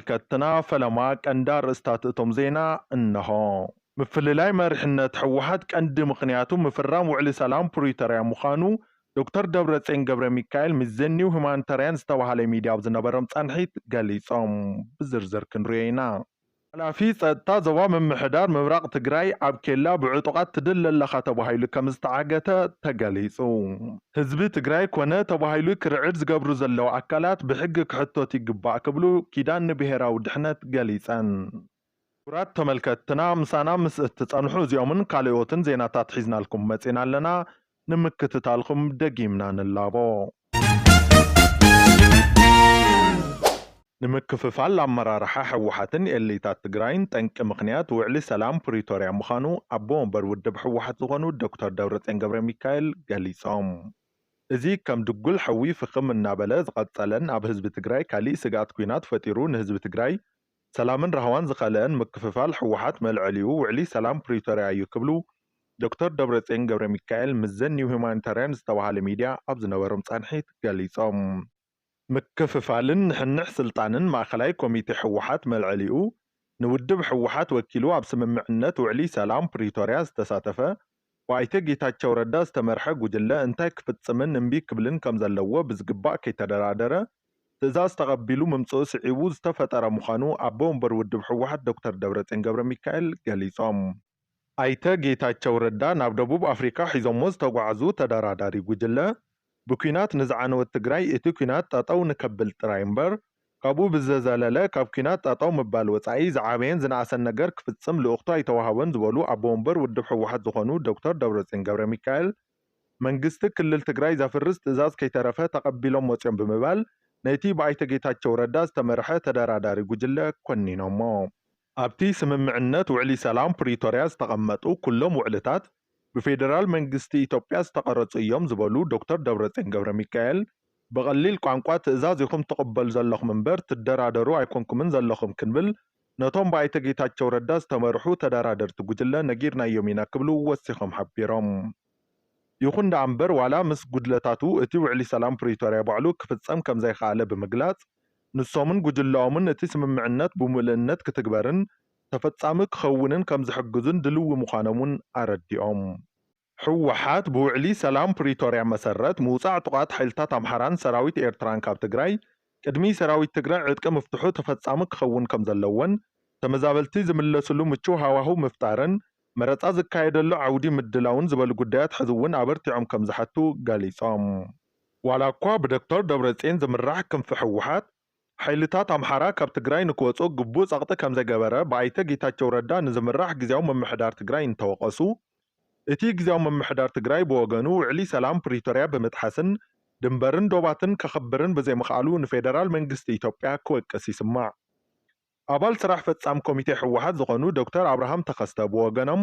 ተመልከትትና ፈለማ ቀንዲ ኣርእስታት እቶም ዜና እነሆ። ምፍልላይ መሪሕነት ህወሓት ቀንዲ ምኽንያቱ ምፍራም ውዕሊ ሰላም ፕሪቶርያ ምዃኑ ዶክተር ደብረፅዮን ገብረሚካኤል ምስ ዘ ኒው ሁማኒታርያን ዝተብሃለ ሚድያ ኣብ ዝነበሮም ፃንሒት ገሊፆም። ብዝርዝር ክንሪኦ ኢና። ሓላፊ ፀጥታ ዞባ ምምሕዳር ምብራቕ ትግራይ ኣብ ኬላ ብዕጡቓት ትድለ ኣለኻ ተባሂሉ ከምዝተዓገተ ተገሊፁ። ህዝቢ ትግራይ ኮነ ተባሂሉ ክርዕድ ዝገብሩ ዘለዉ ኣካላት ብሕጊ ክሕተቱ ይግባእ ክብሉ ኪዳን ንብሄራዊ ድሕነት ገሊፀን። ክቡራት ተመልከትትና ምሳና ምስ እትፀንሑ እዚኦምን ካልኦትን ዜናታት ሒዝናልኩም መፂና ኣለና። ንምክትታልኩም ደጊምና ንላቦ። ንምክፍፋል ኣመራርሓ ህወሓትን ኤሊታት ትግራይን ጠንቂ ምኽንያት ውዕሊ ሰላም ፕሪቶርያ ምዃኑ ኣቦ ወንበር ውድብ ህወሓት ዝኾኑ ዶክተር ደብረፅዮን ገብረሚካኤል ገሊፆም። እዚ ከም ድጉል ሐዊ ፍኽም እናበለ ዝቐፀለን ኣብ ህዝቢ ትግራይ ካሊእ ስግኣት ኲናት ፈጢሩ ንህዝቢ ትግራይ ሰላምን ራህዋን ዝኸልአን ምክፍፋል ህወሓት መልዐሊኡ ውዕሊ ሰላም ፕሪቶርያ እዩ ክብሉ ዶክተር ደብረፅዮን ገብረሚካኤል ምስ ዘ ኒው ሁማኒታርያን ዝተብሃለ ሚድያ ኣብ ዝነበሮም ፃንሒት ገሊፆም። ምክፍፋልን ንሕንሕ ስልጣንን ማእኸላይ ኮሚቴ ህወሓት መልዐሊኡ ንውድብ ህወሓት ወኪሉ ኣብ ስምምዕነት ውዕሊ ሰላም ፕሪቶርያ ዝተሳተፈ ብኣይተ ጌታቸው ረዳ ዝተመርሐ ጉጅለ እንታይ ክፍፅምን እምቢ ክብልን ከምዘለዎ ብዝግባእ ከይተደራደረ ትእዛዝ ተቐቢሉ ምምፅኡ ስዒቡ ዝተፈጠረ ምዃኑ ኣቦ ወንበር ውድብ ህወሓት ዶክተር ደብረፅዮን ገብረሚካኤል ገሊፆም። ኣይተ ጌታቸው ረዳ ናብ ደቡብ ኣፍሪካ ሒዞሞ ዝተጓዓዙ ተደራዳሪ ጉጅለ ብኲናት ንዝዓነወት ትግራይ እቲ ኲናት ጠጠው ንከብል ጥራይ እምበር ካብኡ ብዝዘለለ ካብ ኲናት ጠጠው ምባል ወፃኢ ዝዓበየን ዝነኣሰን ነገር ክፍፅም ልእኽቶ ኣይተውሃቦን ዝበሉ ኣቦ ወንበር ውድብ ህወሓት ዝኾኑ ዶክተር ደብረፅዮን ገብረሚካኤል መንግስቲ ክልል ትግራይ ዘፍርስ ትእዛዝ ከይተረፈ ተቐቢሎም ወፅዮም ብምባል ነቲ ብኣይተ ጌታቸው ረዳ ዝተመርሐ ተደራዳሪ ጉጅለ ኮኒኖሞ። ኣብቲ ስምምዕነት ውዕሊ ሰላም ፕሪቶርያ ዝተቐመጡ ኩሎም ውዕልታት፣ ብፌደራል መንግስቲ ኢትዮጵያ ዝተቐረፁ እዮም ዝበሉ ዶክተር ደብረፅዮን ገብረሚካኤል፣ ብቐሊል ቋንቋ ትእዛዝ ኢኹም ትቕበሉ ዘለኹም እምበር ትደራደሩ ኣይኮንኩምን ዘለኹም ክንብል ነቶም ብኣይተ ጌታቸው ረዳ ዝተመርሑ ተደራደርቲ ጉጅለ ነጊርናዮም ኢና ክብሉ ወሲኾም ሓቢሮም። ይኹን ደኣ እምበር ዋላ ምስ ጉድለታቱ እቲ ውዕሊ ሰላም ፕሪቶርያ ባዕሉ ክፍፀም ከምዘይኸኣለ ብምግላፅ ንሶምን ጉጅለኦምን እቲ ስምምዕነት ብሙልእነት ክትግበርን ተፈፃሚ ክኸውንን ከምዝሕግዙን ድልዊ ምዃኖም እውን ኣረዲኦም። ህወሓት ብውዕሊ ሰላም ፕሪቶርያ መሰረት ምውፃእ ዕጡቓት ሓይልታት ኣምሓራን ሰራዊት ኤርትራን ካብ ትግራይ ቅድሚ ሰራዊት ትግራይ ዕጥቂ ምፍትሑ ተፈፃሚ ክኸውን ከምዘለዎን ተመዛበልቲ ዝምለስሉ ምቹው ሃዋህው ምፍጣርን መረፃ ዝካየደሉ ዓውዲ ምድላውን ዝበሉ ጉዳያት ሕዚ እውን ኣበርቲዖም ከምዝሓቱ ገሊፆም። ዋላኳ ብዶክተር ደብረፅዮን ዝምራሕ ክንፊ ህወሓት፣ ሓይልታት ኣምሓራ ካብ ትግራይ ንክወፅኡ ግቡእ ፀቕጢ ከምዘይገበረ ብኣይተ ጌታቸው ረዳ ንዝምራሕ ግዚያዊ ምምሕዳር ትግራይ እንተወቐሱ፣ እቲ ግዚያዊ ምምሕዳር ትግራይ ብወገኑ ውዕሊ ሰላም ፕሪቶርያ ብምጥሓስን ድንበርን ዶባትን ከኽብርን ብዘይምኽኣሉ ንፌደራል መንግስቲ ኢትዮጵያ ክወቅስ ይስማዕ። ኣባል ስራሕ ፈፃም ኮሚቴ ህወሓት ዝኾኑ ዶክተር ኣብርሃም ተኸስተ ብወገኖም፣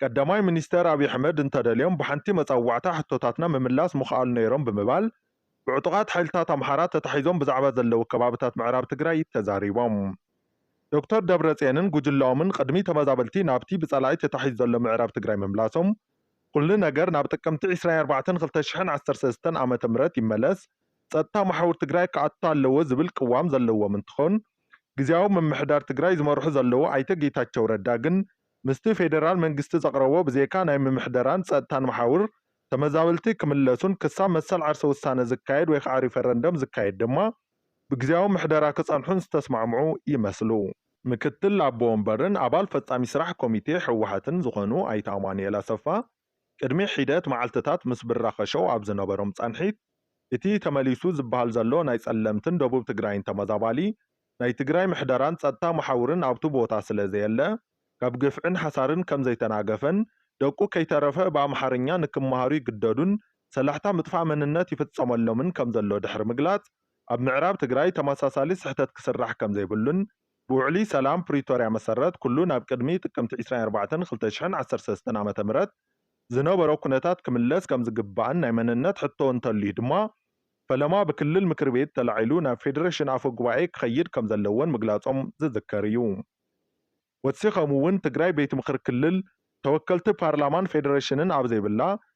ቀዳማይ ሚኒስትር ኣብይ ኣሕመድ እንተደልዮም ብሓንቲ መፀዋዕታ ሕቶታትና ምምላስ ምኽኣሉ ነይሮም ብምባል ብዕጡቓት ሓይልታት ኣምሓራ ተታሒዞም ብዛዕባ ዘለዉ ከባብታት ምዕራብ ትግራይ ተዛሪቦም። ዶክተር ደብረፅዮንን ጉጅለኦምን ቕድሚ ተመዛበልቲ ናብቲ ብፀላኢ ተታሒዙ ዘሎ ምዕራብ ትግራይ ምምላሶም ኹሉ ነገር ናብ ጥቅምቲ ዕስራን ኣርባዕተን ክልተ ሽሕን ዓሰርተ ሰለስተን ዓመተ ምህረት ይመለስ ፀጥታ መሓውር ትግራይ ክኣቱ ኣለዎ ዝብል ቅዋም ዘለዎም እንትኾን ግዝያዊ ምምሕዳር ትግራይ ዝመርሑ ዘለዉ ኣይተ ጌታቸው ረዳ ግን ምስቲ ፌደራል መንግስቲ ዘቕረቦ ብዘይካ ናይ ምምሕደራን ፀጥታን መሓውር ተመዛበልቲ ክምለሱን ክሳብ መሰል ዓርሰ ውሳነ ዝካየድ ወይ ከዓ ሪፈረንደም ዝካየድ ድማ ብግዝያዊ ምሕደራ ክፀንሑን ዝተስማዕምዑ ይመስሉ። ምክትል ኣቦ ወንበርን ኣባል ፈፃሚ ስራሕ ኮሚቴ ህወሓትን ዝኾኑ ኣይተ ኣማኑኤል ኣሰፋ ቅድሚ ሒደት መዓልትታት ምስ ብራኸ ሸው ኣብ ዝነበሮም ፃንሒት እቲ ተመሊሱ ዝብሃል ዘሎ ናይ ፀለምትን ደቡብ ትግራይን ተመዛባሊ ናይ ትግራይ ምሕደራን ፀጥታ መሓውርን ኣብቱ ቦታ ስለ ዘየለ ካብ ግፍዕን ሓሳርን ከም ዘይተናገፈን ደቁ ከይተረፈ ብኣምሓርኛ ንክመሃሩ ይግደዱን ሰላሕታ ምጥፋእ መንነት ይፍፀመሎምን ከም ዘሎ ድሕሪ ምግላፅ ኣብ ምዕራብ ትግራይ ተመሳሳሊ ስሕተት ክስራሕ ከም ዘይብሉን ብውዕሊ ሰላም ፕሪቶርያ መሰረት ኩሉ ናብ ቅድሚ ጥቅምቲ ዕስራን ኣርባዕተን ክልተ ሽሕን ዓሰርተ ሰለስተን ዓመተ ምህረት ዝነበሮ ኩነታት ክምለስ ከምዝግባእን ናይ መንነት ሕቶ እንተልዩ ድማ ፈለማ ብክልል ምክር ቤት ተላዒሉ ናብ ፌዴሬሽን ኣፈ ጉባኤ ክኸይድ ከምዘለዎን ምግላፆም ዝዝከር እዩ። ወሲኸም እውን ትግራይ ቤት ምኽሪ ክልል፣ ተወከልቲ ፓርላማን ፌዴሬሽንን ኣብ ዘይብላ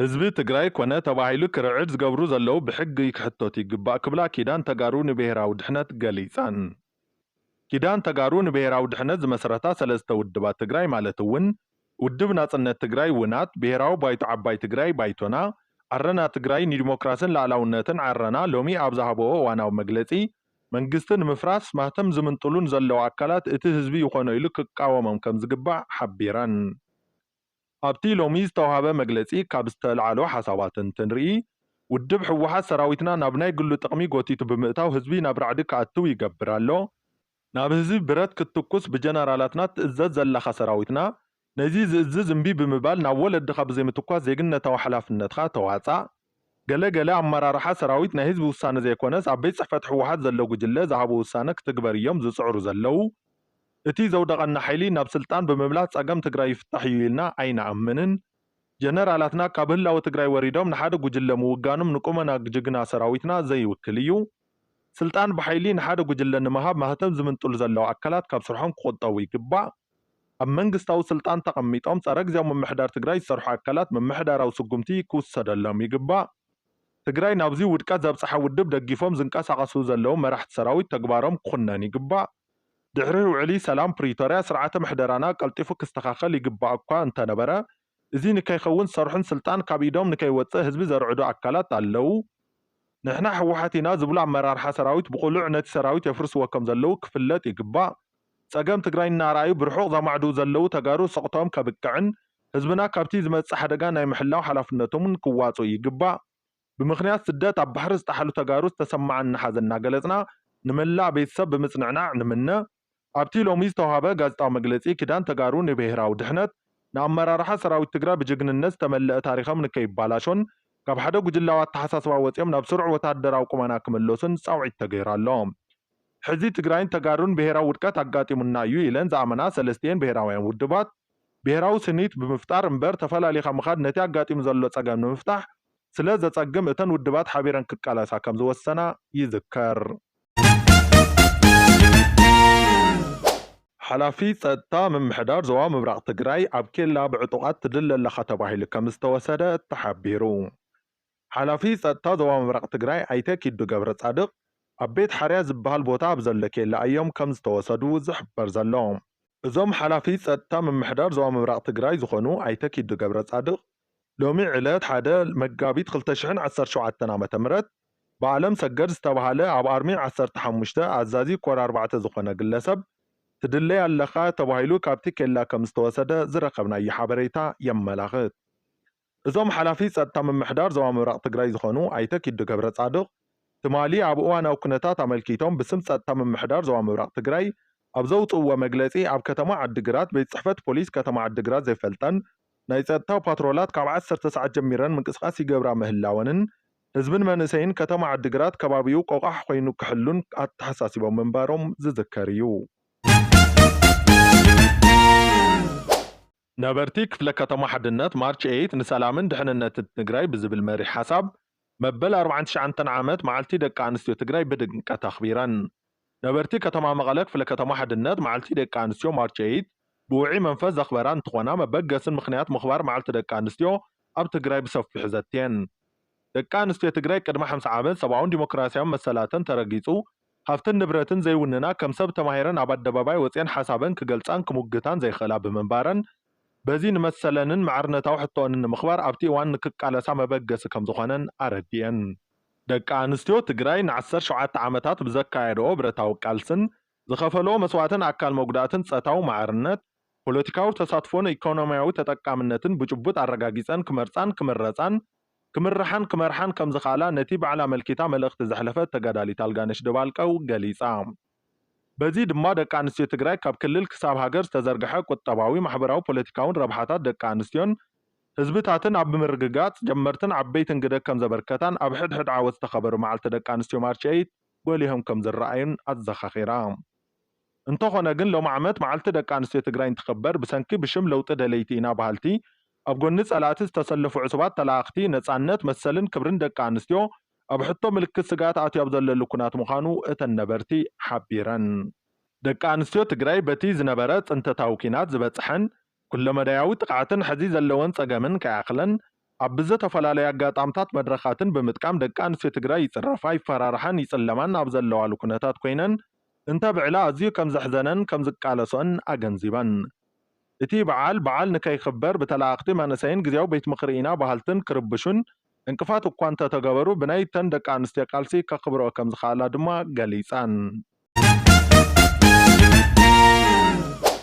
ህዝቢ ትግራይ ኮነ ተባሂሉ ክርዕድ ዝገብሩ ዘለው ብሕጊ ክሕተቱ ይግባእ ክብላ ኪዳን ተጋሩ ንብሄራዊ ድሕነት ገሊፀን። ኪዳን ተጋሩ ንብሄራዊ ድሕነት ዝመሰረታ ሰለስተ ውድባት ትግራይ ማለት እውን ውድብ ናፅነት ትግራይ፣ ውናት፣ ብሄራዊ ባይቶ ዓባይ ትግራይ፣ ባይቶና፣ ዓረና ትግራይ ንዲሞክራስን ልኣላውነትን፣ ዓረና፣ ሎሚ ኣብ ዝሃበኦ እዋናዊ መግለፂ መንግስቲ ንምፍራስ ማህተም ዝምንጥሉን ዘለዉ ኣካላት እቲ ህዝቢ ይኾኖ ኢሉ ክቃወሞም ከምዝግባእ ሓቢረን። ኣብቲ ሎሚ ዝተውሃበ መግለፂ ካብ ዝተልዓሉ ሓሳባት እንትንርኢ ውድብ ህወሓት ሰራዊትና ናብ ናይ ግሉ ጥቕሚ ጎቲቱ ብምእታው ህዝቢ ናብ ራዕዲ ክኣትው ይገብር ኣሎ፣ ናብ ህዝቢ ብረት ክትትኩስ ብጀነራላትና ትእዘዝ ዘለኻ ሰራዊትና ነዚ ዝእዝዝ እምቢ ብምባል ናብ ወለድኻ ብዘይምትኳስ ዜግነታዊ ሓላፍነትካ ተዋፃእ። ገለ ገለ ኣመራርሓ ሰራዊት ናይ ህዝቢ ውሳነ ዘይኮነስ ኣብ ቤት ፅሕፈት ህወሓት ዘሎ ጉጅለ ዝሃቦ ውሳነ ክትግበር እዮም ዝፅዕሩ ዘለው። እቲ ዘውደቐና ሓይሊ ናብ ስልጣን ብምምላስ ፀገም ትግራይ ይፍታሕ እዩ ኢልና ኣይንኣምንን። ጀነራላትና ካብ ህላወ ትግራይ ወሪዶም ንሓደ ጉጅለ ምውጋኖም ንቁመና ጅግና ሰራዊትና ዘይውክል እዩ። ስልጣን ብሓይሊ ንሓደ ጉጅለ ንምሃብ ማህተም ዝምንጥሉ ዘለው ኣካላት ካብ ስርሖም ክቑጠቡ ይግባእ። ኣብ መንግስታዊ ስልጣን ተቐሚጦም ፀረ ግዚያዊ ምምሕዳር ትግራይ ዝሰርሑ ኣካላት ምምሕዳራዊ ስጉምቲ ክውሰደሎም ይግባእ። ትግራይ ናብዙይ ውድቀት ዘብፀሓ ውድብ ደጊፎም ዝንቀሳቐሱ ዘለው መራሕቲ ሰራዊት ተግባሮም ክኹነን ይግባእ። ድሕሪ ውዕሊ ሰላም ፕሪቶርያ ስርዓተ ምሕደራና ቀልጢፉ ክስተኻኸል ይግባእ እኳ እንተነበረ እዚ ንከይኸውን ዝሰርሑን ስልጣን ካብ ኢዶም ንከይወፅእ ህዝቢ ዘርዕዱ ኣካላት ኣለው። ንሕና ህወሓት ኢና ዝብሉ ኣመራርሓ ሰራዊት ብቕሉዕ ነቲ ሰራዊት የፍርስዎ ከም ዘለው ክፍለጥ ይግባእ። ፀገም ትግራይ እናርኣዩ ብርሑቕ ዘማዕድው ዘለው ተጋሩ ስቕተኦም ከብቅዕን ህዝብና ካብቲ ዝመፅእ ሓደጋ ናይ ምሕላው ሓላፍነቶም እውን ክዋፅኡ ይግባእ። ብምኽንያት ስደት ኣብ ባሕሪ ዝጠሓሉ ተጋሩ ዝተሰመዓና ሓዘን እናገለፅና ንመላእ ቤተሰብ ብምፅንዕናዕ ንምነ። ኣብቲ ሎሚ ዝተውሃበ ጋዜጣዊ መግለፂ ኪዳን ተጋሩ ንብሄራዊ ድሕነት ንኣመራርሓ ሰራዊት ትግራይ ብጅግንነት ዝተመለኣ ታሪኸም ንከይባላሾን ካብ ሓደ ጉጅላዊ ኣተሓሳስባ ወፂኦም ናብ ስሩዕ ወታደራዊ ቁመና ክምለሱን ፃውዒት ተገይሩ ኣሎ። ሕዚ ትግራይን ተጋሩን ብሄራዊ ውድቀት ኣጋጢሙና እዩ ኢለን ዝኣመና ሰለስቲኤን ብሄራውያን ውድባት ብሄራዊ ስኒት ብምፍጣር እምበር ተፈላሊኻ ምኻድ ነቲ ኣጋጢሙ ዘሎ ፀገም ንምፍታሕ ስለዘፀግም እተን ውድባት ሓቢረን ክቃለሳ ከምዝወሰና ይዝከር። ሓላፊ ፀጥታ ምምሕዳር ዞባ ምብራቕ ትግራይ ኣብ ኬላ ብዕጡቓት ትድለ ኣለኻ ተባሂሉ ከምዝተወሰደ ተሓቢሩ። ሓላፊ ፀጥታ ዞባ ምብራቕ ትግራይ ኣይተ ኪዱ ገብረፃድቕ ኣብ ቤት ሓርያ ዝበሃል ቦታ ኣብ ዘሎ ኬላ እዮም ከምዝተወሰዱ ዝሕበር ዘሎ። እዞም ሓላፊ ፀጥታ ምምሕዳር ዞባ ምብራቕ ትግራይ ዝኾኑ ኣይተ ኪዱ ገብረፃድቕ ሎሚ ዕለት ሓደ መጋቢት ክልተ ሽሕን ዓሰርተ ሸውዓተን ዓመተ ምህረት ብኣለም ሰገድ ዝተባሃለ ኣብ ኣርሚ ዓሰርተ ሓሙሽተ ኣዛዚ ኮር ኣርባዕተ ዝኾነ ግለሰብ ትድለይ ኣለኻ ተባሂሉ ካብቲ ኬላ ከምዝተወሰደ ዝረኸብናዮ ሓበሬታ የመላኽት። እዞም ሓላፊ ፀጥታ ምምሕዳር ዞባ ምብራቕ ትግራይ ዝኾኑ ኣይተ ኪዱ ገብረፃድቕ ትማሊ ኣብ እዋናዊ ኩነታት ኣመልኪቶም ብስም ፀጥታ ምምሕዳር ዞባ ምብራቕ ትግራይ ኣብ ዘውጽእዎ መግለጺ፣ ኣብ ከተማ ዓዲግራት ቤት ጽሕፈት ፖሊስ ከተማ ዓዲግራት ዘይፈልጠን ናይ ጸጥታ ፓትሮላት ካብ ዓሰርተ ሰዓት ጀሚረን ምንቅስቓስ ይገብራ ምህላወንን ህዝብን መንእሰይን ከተማ ዓዲግራት ከባቢኡ ቆቛሕ ኮይኑ ክሕሉን ኣተሓሳሲቦም ምንባሮም ዝዝከር እዩ። ነበርቲ ክፍለ ከተማ ሓድነት ማርች ኤይት ንሰላምን ድሕንነትን ትግራይ ብዝብል መሪሕ ሓሳብ መበል ኣርብዓን ትሽዓንተን ዓመት መዓልቲ ደቂ ኣንስትዮ ትግራይ ብድምቀት ኣኽቢረን። ነበርቲ ከተማ መቐለ ክፍለ ከተማ ሓድነት መዓልቲ ደቂ ኣንስትዮ ማርች ኤይት ብውዕይ መንፈስ ዘኽበራ እንትኾና መበገስን ምኽንያት ምኽባር መዓልቲ ደቂ ኣንስትዮ ኣብ ትግራይ ብሰፊሑ ዘትየን። ደቂ ኣንስትዮ ትግራይ ቅድሚ ሓምሳ ዓመት ሰብኣውን ዲሞክራሲያውን መሰላተን ተረጊፁ ሃፍትን ንብረትን ዘይውንና ከም ሰብ ተማሂረን ኣብ ኣደባባይ ወጺኤን ሓሳበን ክገልጻን ክሙግታን ዘይኽእላ ብምንባረን በዚ ንመሰለንን ማዕርነታዊ ሕቶኦንን ንምኽባር ኣብቲ እዋን ንክቃለሳ መበገሲ ከምዝኾነን ኣረዲኤን። ደቂ ኣንስትዮ ትግራይ ንዓሰርተ ሸውዓተ ዓመታት ብዘካየደኦ ብረታዊ ቃልስን ዝኸፈለኦ መስዋእትን ኣካል መጉዳእትን ጸታዊ ማዕርነት፣ ፖለቲካዊ ተሳትፎን ኢኮኖሚያዊ ተጠቃምነትን ብጭቡጥ ኣረጋጊፀን ክመርፃን ክምረፃን፣ ክምርሓን ክመርሓን ከምዝኽኣላ ነቲ ባዕላ ኣመልኪታ መልእኽቲ ዘሕለፈት ተጋዳሊት ኣልጋነሽ ደባልቀ ገሊፃ። በዚ ድማ ደቂ ኣንስትዮ ትግራይ ካብ ክልል ክሳብ ሃገር ዝተዘርገሐ ቁጠባዊ፣ ማሕበራዊ፣ ፖለቲካዊን ረብሓታት ደቂ ኣንስትዮን ህዝብታትን ኣብ ምርግጋፅ ጀመርትን ዓበይትን ግደ ከምዘበርከታን ኣብ ሕድሕድ ዓወት ዝተኸበሩ መዓልቲ ደቂ ኣንስትዮ ማርች ኤይት ጎሊሆም ከምዝረኣዩን ኣዘኻኺራ። እንተኾነ ግን ሎሚ ዓመት መዓልቲ ደቂ ኣንስትዮ ትግራይ እንትኽበር ብሰንኪ ብሽም ለውጢ ደለይቲ ኢና በሃልቲ ኣብ ጎኒ ፀላእቲ ዝተሰለፉ ዕሱባት ተለኣኣኽቲ ነፃነት፣ መሰልን ክብርን ደቂ ኣንስትዮ ኣብ ሕቶ ምልክት ስግኣት ኣትዩ ኣብ ዘለሉ ኩናት ምዃኑ እተን ነበርቲ ሓቢረን። ደቂ ኣንስትዮ ትግራይ በቲ ዝነበረ ፅንተታዊ ኩናት ዝበፀሐን ኩለመዳያዊ ጥቕዓትን ሕዚ ዘለወን ፀገምን ከይኣኽለን ኣብ ብዘተፈላለዩ ኣጋጣምታት መድረኻትን ብምጥቃም ደቂ ኣንስትዮ ትግራይ ይፅረፋ፣ ይፈራርሓን ይፅለማን ኣብ ዘለዋሉ ኩነታት ኮይነን እንተብዕላ ኣዝዩ ከምዘሕዘነን ከምዝቃለሰኦን ኣገንዚበን። እቲ በዓል በዓል ንከይኽበር ብተለኣኣኽቲ መንእሰይን ግዝያዊ ቤት ምኽሪ ኢና በሃልትን ክርብሹን ዕንቅፋት እኳ እንተተገበሩ ብናይ እተን ደቂ ኣንስትዮ ቃልሲ ከኽብረኦ ከምዝኸኣላ ድማ ገሊፀን።